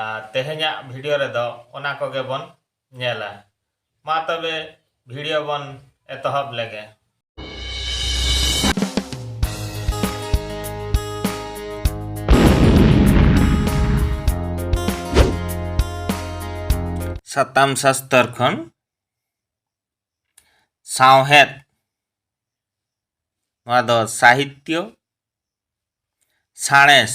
ᱟᱨ ᱛᱮᱦᱮᱧᱟᱜ ᱵᱷᱤᱰᱤᱭᱳ ᱨᱮᱫᱚ ᱚᱱᱟ ᱠᱚᱜᱮ ᱵᱚᱱ ᱧᱮᱞᱟ᱾ ᱢᱟ ᱛᱚᱵᱮ ᱵᱷᱤᱰᱤᱭᱳ ᱵᱚᱱ ᱮᱛᱚᱦᱚᱵ ᱞᱮᱜᱮ᱾ ᱥᱟᱛᱟᱢ ᱥᱟᱥᱛᱚᱨ ᱠᱷᱚᱱ ᱥᱟᱶᱦᱮᱫ ᱱᱚᱣᱟ ᱫᱚ ᱥᱟᱦᱤᱛᱭᱚ ᱥᱟᱬᱮᱥ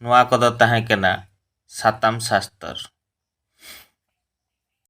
ᱱᱚᱣᱟ ᱠᱚᱫᱚ ᱛᱟᱦᱮᱸ ᱠᱟᱱᱟ ᱥᱟᱛᱟᱢ ᱥᱟᱥᱛᱚᱨ᱾